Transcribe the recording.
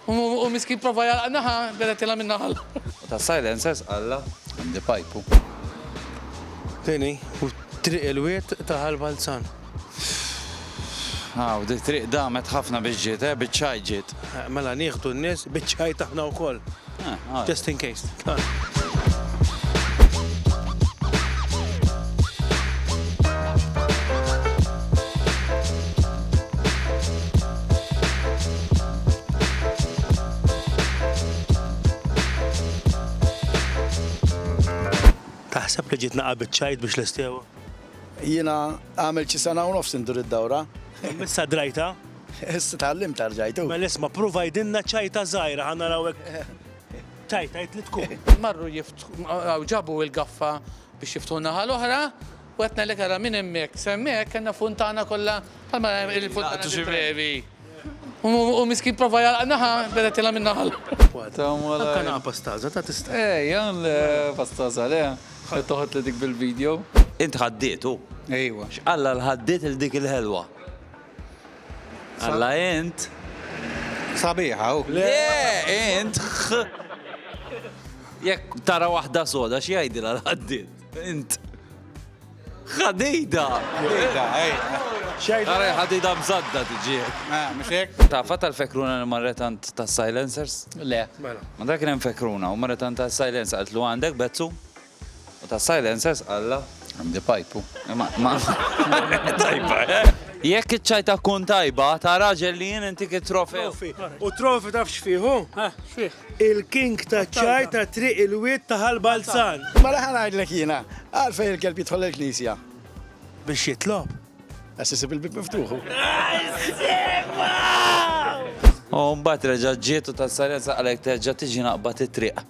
U miskin prova jagħlaq naħa, beda tilha minn naħa l-oħra. U ta' silencers qalla għandi pajpu. Tieni, u triq il-wied ta' Ħal Balzan. Aw, di triq damet ħafna biex ġiet, eh, biċ-ċajt ġiet. Mela nieħdu n-nies biċ-ċajt aħna wkoll. Just in case. Taħseb li ġietna qabid ċajt biex l-istiewa? Jiena għamilt xi sena u nofs indur id-dawra. Missa drajtha? Issa tgħallimt tarġajtu. Mela isma' pruva għidilna ċajta żgħira ħa naraw hekk. Tgħid tgħid li tkun. Marru jiftħu ġabu l-gaffa biex jiftħu naħa l-oħra u qed ngħidlek ara minn hemmhekk semmek kellna funtana kollha bħalma il-funtana xi brevi. U miskin prova jalqa naħa beda tilha minn naħal. Anka naqa pastaza ta' tista'. Eh, jan pastaza le. Qed toħod li dik bil-video. Int ħaddietu? Ejwa. X'qalla l-ħaddiet il dik il-ħelwa? Alla int. Sabiħ hawn. Le, int. Jekk tara waħda soda x'jgħidilha l-ħaddied. Int. Ħadida. Ħadida, ej. Għara ħadida mżadda tiġi. Ah, mux hekk? Ta' fatta l-fekruna li marretant ta' silencers? Le. Mela. Ma dak kien fekruna u marretant ta' silencers għaltlu għandek bezzu? U ta' silencers alla. Għandi pajpu. Tajba, eh? Jekk iċ-ċajta tkun tajba, ta' raġel li jien intik it-trofew. Trofi. U trofi taf x'fih hu? Eh, x'fih? Il-king taċ-ċaj ta' Triq il-Wied ta' Ħal Balzan. Mela ħa ngħidlek jiena, għalfejn il-kelb jidħol il-knisja? Biex jitlob. Għax isib il-bieb miftuħ hu. U mbagħad reġa' ġiet u ta' silencers qalek terġa' tiġi naqbad it-triq.